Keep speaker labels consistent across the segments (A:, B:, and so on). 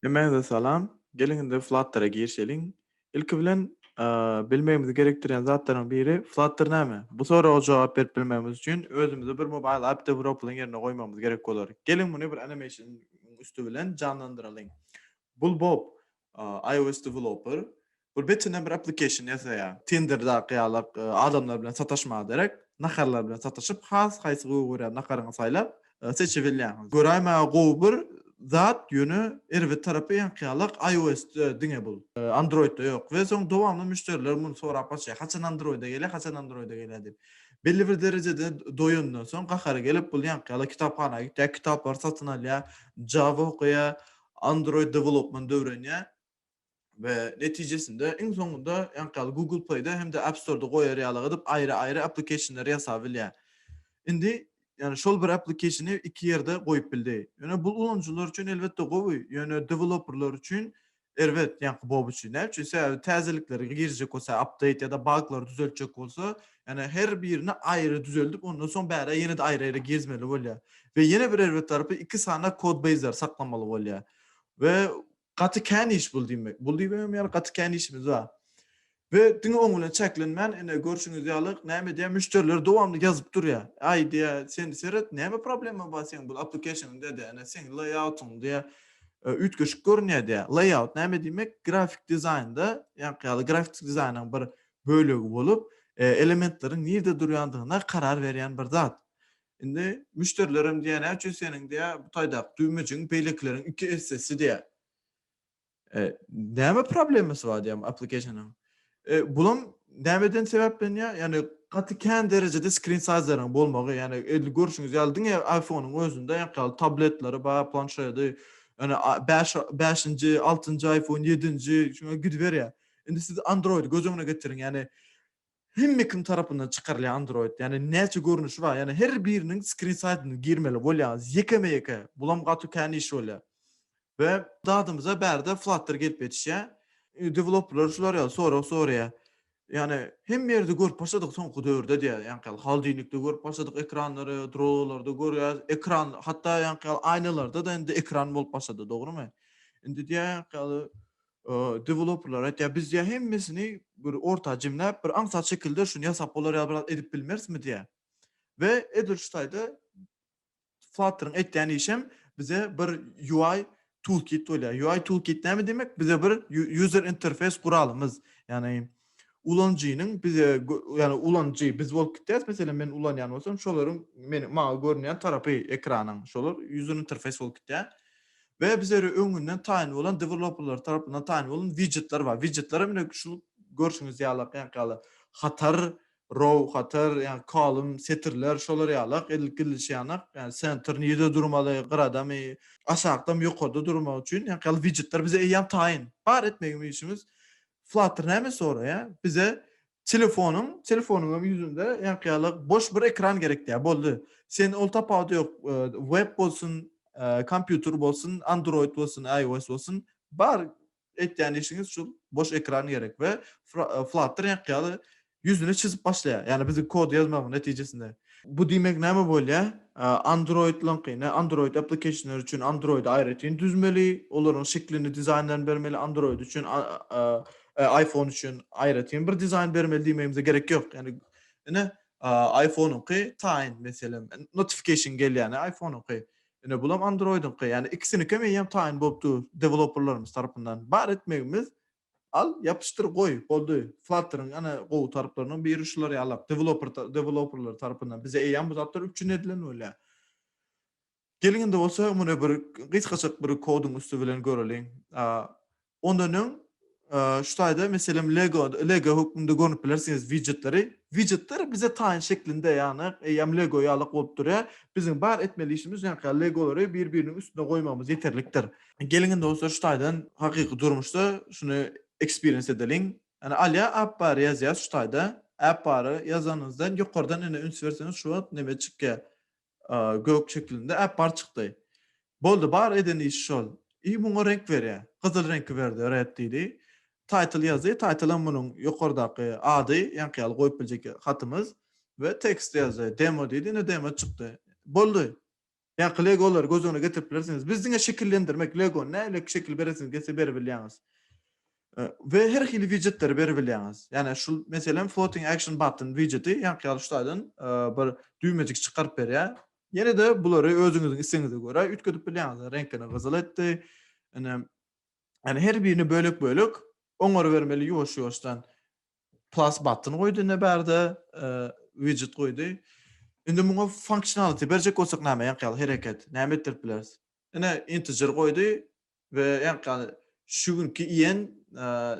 A: Hemmäňize salam. Geliň indi Flutter-a girişeliň. Ilki bilen bilmegimizi gerekdirýän zatlaryň biri Flutter näme? Bu soraga jogap berip bilmegimiz üçin özümizi bir mobile app deweloper-yň ýerine goýmagymyz gerek bolar. Geliň muny bir animation-yň üsti bilen janlandyralyň. Bul Bob, iOS deweloper. Ol betine bir application ýasaýa. Tinderdaky ýalak adamlar bilen sataşmaga derek, naharlar bilen sataşyp, has haýsy gowy görýän nakaryňy saýlap, seçibilýäňiz. Göräýmäge gowy bir zat, ýöne erbet tarapy ýaňky ýalak iOS-de diňe bul. Android-de ýok. We soň dowamly müşderiler muny sorap gaçýa, haçan Android-e gelýä, haçan Android-e gelýä diýip. Belli bir derejede doýandan soň gahary gelip, bul ýaňky ýaly kitaphana gitýä, kitaplary satyn alýa, Java okaýa, Android development öwrenýä. we netijesinde iň soňunda ýaňky Google Play-de hem-de App Store-da goýar ýalyk edip aýry-aýry application-leri ýasap bilýär. Indi, ýagny şol bir application-y iki ýerde goýup bildi. Ýöne bul ulanyjylar üçin elbetde gowy, ýöne deweloperlar üçin erbet, ýaňky Bob üçin. Näme üçin? Sebäbi täzelikleri girjek bolsa, update ýa-da baglary düzeltjek bolsa, ýagny her birini aýry düzeldip, ondan soň bärä ýene-de aýry-aýry gezmeli bolýar. We ýene bir erbet tarapy iki sany kod-beýzleri saklamaly bolýar. We Gaty kän iş bul diýmek. Bul diýibemem ýaly gaty kän işimiz bar. We diňe oň bilen çäklenmän, ine, görşüňiz ýaly, näme edýär, müşderiler dowamly ýazyp durýar. Aý, diýýär, sen seret, näme problema bar seň bul application-inde, diýýär, ine, seň layout-yň, diýýär, üýtgeşik görünýär, diýýär. Layout näme diýmek? Grafik dizaýnda, ýaňky ýaly, grafik dizaýnyň bir bölegi bolup, elementleriň nirde durýandygyna karar berýän bir zat. Indi müşderilerem diýýär, näme üçin seniň diýýär, bu taýdaky düwmejigiň beýlekileriň iki essesi diýýär. E, näme problemasy bar diýýär application-yň. E, bulam nämeden sebäplenýär? Ýagny gaty kän derejede screen size-laryň bolmagy, ýagny edil görşüňiz ýaly diňe iPhone-yň özünde ýaňky tabletleri bar, planşedi, ýagny bäş, bäşinji, altynjy iPhone, ýedinji, şuňa gidiberýär. Indi siz Android göz öňüne getiriň, ýagny Hemme kim tarapyndan çykarylýan Android ýane näçe görnüşi bar ýane her biriniň skrin saýtyna girmeli bolýaňyz ýekeme ýeke bulam gaty kän iş bolýa we dadymyza bärde flutter gelip ýetişýä developerler şular ýaly sorag soraýa ýane hemme ýerde görüp başladyk soňky döwürde diýä ýaňky ýaly haldinikde görüp başladyk ekranlary drolarda görýäs ekran hatda ýaňky ýaly aýnalarda da indi ekran bolup başlady dogrymy indi diýä ýaňky ýaly Deweloperler aýtýar, biz diýýär hemmesini bir orta jemläp, bir aňsat şekilde şuny ýasap bolar ýaly biraz edip bilmerismi diýýär. We edil şu taýda Flutter-yň etýän işem bize bir UI toolkit bolýar. UI toolkit näme diýmek? Bize bir user interface guralymyz, ýagny ulanyjynyň bize, ýagny ulanyjy biz bolup gidýäris, meselem, men ulanýan bolsam, şolaryň meniň, maňa görünýän tarapy ekranyň, şolar user interface bolup gidýär we bize öri öňünden taýyn bolan dewelopperler tarapyndan taýyn bolan widjetler bar. Widjetler hem ine şu görşüňiz ýalak, ýaňky ýaly hatar, row, hatar, ýagny column, setirler, şolar ýalak edilip gidilişi ýanak, ýagny center nirede durmaly, gyradamy, aşakdamy, ýokarda durmagy üçin ýaňky ýaly widjetler bize eýýäm taýyn. Bar etmegimiz işimiz Flutter näme soraýa? Bize telefonyň, telefonyň hem ýüzünde ýaňky ýaly boş bir ekran gerek diýýä. Boldy. Sen ol tapawudy ýok, web bolsun, kompýuter bolsun, Android bolsun, IOS bolsun, bar etýän işiňiz şul, boş ekran gerek we Flutter ýaňky ýaly ýüzüni çyzyp başlaýar. Ýagny biziň kod ýazmagyň netijesinde. Bu diýmek näme bolýar? Androidlaňky, ne Android applicationlary üçin Android aýratyn düzmeli, olaryň şeklini, dizaýnlaryny bermeli, Android üçin iPhone üçin aýratyn bir dizaýn bermeli diýmegimize gerek ýok. Ýagny ine iPhone-yňky taýyn meselem, notification gelýär iPhone-yňky. Ine bulam Android-yňky. Ýagny ikisinikem eýýäm taýyn bolup dur deweloperlarymyz tarapyndan. Bar etmegimiz Al, ýapyşdyr, goý, boldy. Flutter-iň ene gowy tarplarynyň biri şular ýalak, deweloper, deweloperler tarapyndan bize eýýäm bu zatlar üpjün edilen bolýar. Geliň indi bolsa muny bir gysgajyk bir koduň üsti bilen göreliň. Ondan öň şu taýda meselem Lego, Lego hökmünde görnüp bilersiňiz widjetleri. Widjetler bize taýyn şeklinde ýagny eýýäm Lego ýalak bolup durýar. Biziň bar etmeli işimiz ýaňky ýaly Legolary bir-biriniň üstüne goýmagymyz ýeterlikdir. Geliň indi bolsa şu taýdan hakyky durmuşda şuny ekspiriens edeliň. Ýani Alýa Apbary ýazýas şu taýda. Apbary ýazanyňyzdan ýokardan indi üns berseňiz şu wagt neme çykýar? Gök şeklinde Apbar çykdy. Boldy bar eden işi şol. I muňa reňk berýär. Gyzyl reňki berdi red diýdi. Title ýazdy. Title'am munuň ýokardaky ady ýaňky ýaly goýup biljek hatymyz. We text ýazdy. Demo diýdi indi demo çykdy. Boldy. Ýaňky legolary göz öňüne getirip bilersiňiz. Biz diňe şekillendirmek, lego, nähili şekil beresiňiz gelse beribilýäňiz. We her hili widjetleri beribilýäňiz. Ýani şu meselem floating action button widjeti ýaňky ýaly şutaýdan bir düwmejik çykaryp berýär. Ýene-de bulary özüňiziň islegiňize görä üýtgedip bilýäňiz. Reňkini gyzyl etdi. Ine, ýani her birini bölek-bölek oňarybermeli ýuwaş-ýuwaşdan. Plus button goýdy indi bärde, widget goýdy. Indi muňa functionality berjek bolsak näme ýaňky ýaly hereket, näme etdirip bileris? Ine integer goýdy we ýaňky ýaly şu günki iýen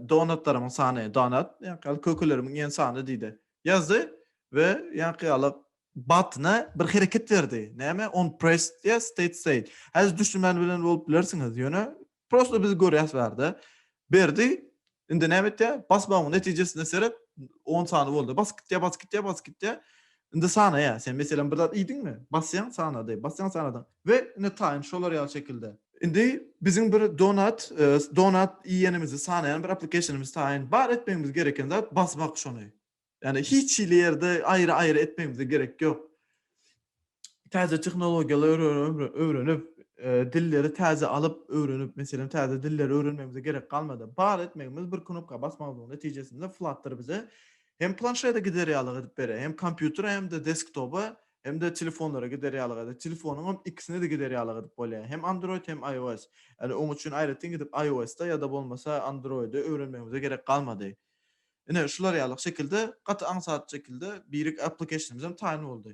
A: donatlarymyň sany, donat, ýaňky ýaly kökelerimiň iýen sany diýdi. Ýazdy we ýaňky ýaly button-a bir hereket berdi. Näme? OnPressed ýa StateState. Häzir düşünmän bilen bolup bilersiňiz, ýöne Prosto biz görýäs bärde. Berdi indi näme etýär? Basmagyň netijesine seret, on sany boldy. Basyp gitýär, basyp gitýär, basyp gitýär. Indi sanaýar. Sen meselem bir zat iýdiňmi? Basýaň, sanady. Basýaň, sanadyň. We indi taýyn şolar ýaly şekilde. Indi biziň bir donat, donat iýenimizi sanaýan bir application-ymyz taýyn. Bar etmegimiz gereken zat basmak şony. Ýagny hiç hili ýerde aýry-aýry etmegimize gerek ýok. Täze tehnologiýalary öwrenip, dilleri täze alyp, öwrenip, meselem, täze dilleri öwrenmegimize gerek galmady. Bar etmegimiz bir knopka basmagymyzyň netijesinde Flutter bize hem planşede gider ýalyk edip berer, hem kompýutere hem-de desktoba hem-de telefonlara gider ýalyk eder. Telefonyň hem ikisine-de gider ýalyk edip bolýar. Hem Android hem iOS. Ýagny oň üçin aýratyn gidip iOS-da ýa-da bolmasa Android-i öwrenmegimize gerek galmady. Ine, şular ýaly şekilde, gaty aňsat şekilde birik applicationymyzam taýyn boldy.